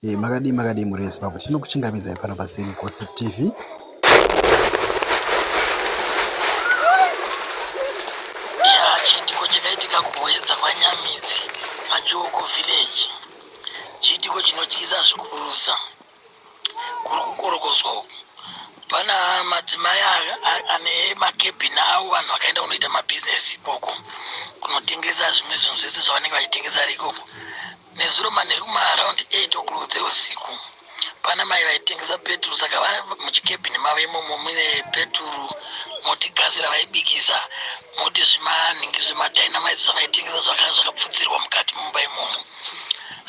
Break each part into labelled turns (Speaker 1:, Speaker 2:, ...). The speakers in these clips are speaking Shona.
Speaker 1: Hey, makadii makadii mhuri yezimbabwe tinokuchingamidzai pano pasame gossip tv Eya, chiitiko chakaitika kuHwenza kwaNyamidzi, Majoko Village, chiitiko chinotyisa zvikurusa. Kuri kukorokodzwa uku, pana madzimai a- a- ane makebhini avo vanhu vakaenda kunoita mabhizinesi ikoko, kunotengesa zvimwe zvinhu zvese zvavanenge vachitengesa ari ikoko. Nezuro manheru maaround 8 o'clock dzeusiku pana mai vaitengesa peturu saka vari muchikebhini mavo imomo mune peturu moti gasi ravaibikisa moti zvimanhingi zvemadynamite zvavaitengesa zvakanga zvakapfudzirwa mukati mumba imomo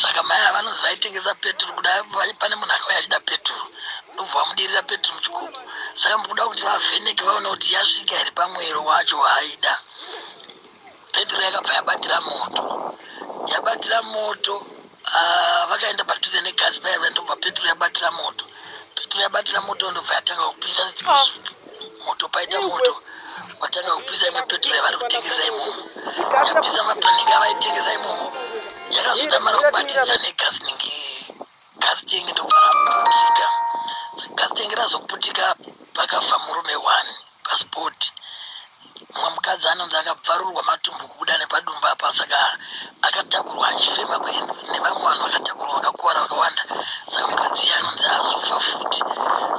Speaker 1: saka mai ava vanonzi vaitengesa peturu kuda pane munhu akauya achida peturu ndobva vamudirira peturu muchikuku saka mukuda kuti vavheneke vaone kuti yasvika here pamwero wacho waaida petro yakabva yabatira moto yabatira moto ah, vakaenda padhuze negasi payave ndobva petro yabatira moto petro yabatira moto ndobva yatanga kupisa moto paita moto watanga kupisa imwe petro yavari kutengesa imomo yapisa mapanika avaitengesa imomo yakazoda mari kubatidza negasi ningi gasi tenge ndokuputika gasi tenge razoputika pakafa murume one pasport mumwe mukadzi anonzi akabvarurwa matumbu kubuda nepadumba apa saka akatakurwa achifema kuenda nevamwe vanhu vakatakurwa vakakuvara vakawanda saka mukadzi iye anonzi azofa futi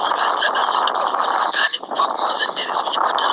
Speaker 1: saka anzi andaziva kuti kwafa vanhu vangani kubva kumazenderesi kuchipatara